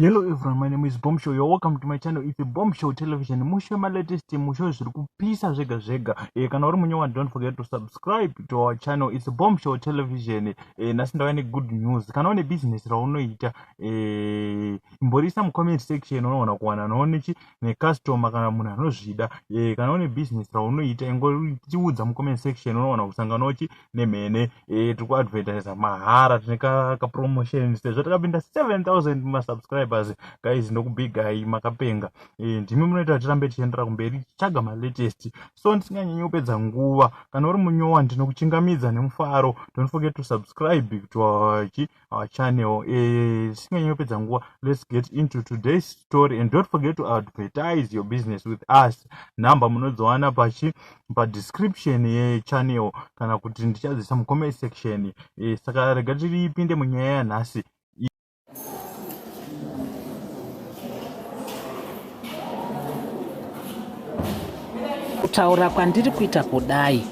Hello everyone, my name is Bombshow. You're welcome to my channel. It's a Bombshow Television. Mushe ma latest mushe zviri kupisa zvega zvega. Eh, kana uri munyewa don't forget to subscribe to our channel. It's a Bombshow Television. Eh, nasi ndava ne good news. Kana une business raunoita, eh, imborisa mu comment section unoona kuwana noone chi ne customer kana munhu anozvida. Eh, kana une business raunoita ingoriudza mu comment section unoona kusangana uchi nemhene eh, tiri kuadvertisa mahara tine kapromotion sezvo takapinda 7000 masubscribers guys ndokubigai makapenga eh, ndimi munoita kuti tirambe tichiendera kumberi tichitsvaga malatest so ndisinganyanyi kupedza nguva kana uri munyowa ndinokuchingamidza nemufaro don't forget to subscribe to our our channel eh, tisinganyi uh, kupedza nguva let's get into today's story and don't forget to advertise your business with us number munodziwana pachi padescription yechannel kana kuti ndichadzisa mucomment section eh, saka rega tiripinde munyaya yanhasi kutaura kwandiri kuita kudai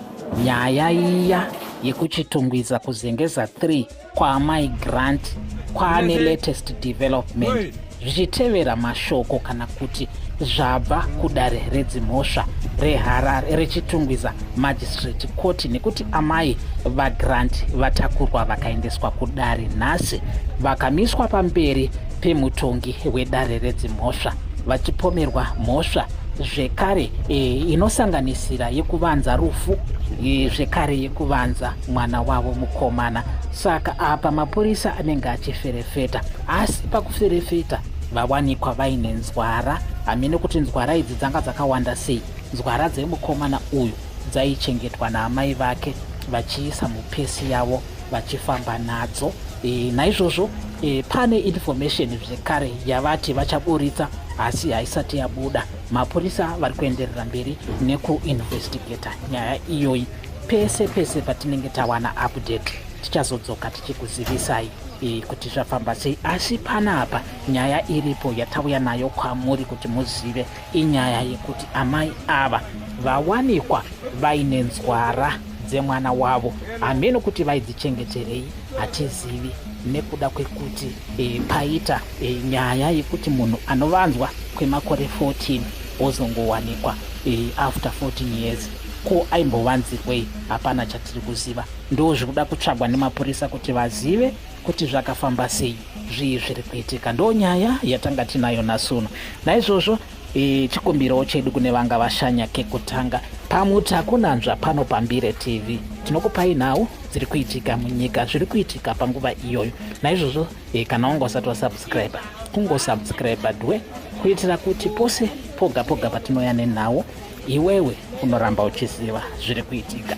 nyaya iya yekuchitungwiza kuzengeza 3 kwaamai grant kwaane latest development zvichitevera mashoko kana kuti zvabva kudare redzimhosva reharare rechitungwiza magistrate court nekuti amai vagrant vatakurwa vakaendeswa kudare nhasi vakamiswa pamberi pemutongi wedare redzimhosva vachipomerwa mhosva zvekare e, inosanganisira yekuvanza rufu e, zvekare yekuvanza mwana wavo mukomana saka apa mapurisa anenge achiferefeta asi pakuferefeta vawanikwa vaine nzwara hamene kuti nzwara idzi dzanga dzakawanda sei nzwara dzemukomana uyu dzaichengetwa naamai vake vachiisa mupesi yavo vachifamba nadzo e, naizvozvo e, pane information zvekare yavati vachaburitsa asi haisati yabuda mapurisa vari kuenderera mberi nekuinvestigata nyaya iyoyi pese pese patinenge tawana update tichazodzoka tichikuzivisai e, kuti zvafamba sei asi panapa nyaya iripo yatauya nayo kwamuri kuti muzive inyaya yekuti amai ava vawanikwa vaine nzwara dzemwana wavo hameno kuti vaidzichengeterei hatizivi nekuda kwekuti e, paita e, nyaya yekuti munhu anovanzwa kwemakore 14 ozongowanikwa e, after 14 years Ko aimbovanzirwei? Hapana chatiri kuziva. Ndoo zviri kuda kutsvagwa nemapurisa kuti vazive kuti zvakafamba sei, zvii zviri kuitika. Ndoo nyaya yatanga tinayo nasuno. Naizvozvo e, chikumbiro chedu kune vanga vashanya kekutanga pamuti hakunanzva pano pambire tv tinokupai nhau dziri kuitika munyika zviri kuitika panguva iyoyo naizvozvo e, kana wanga usati wasubscribe kungosubscribe dwe kuitira kuti pose poga poga patinoya nenhau iwewe unoramba uchiziva zviri kuitika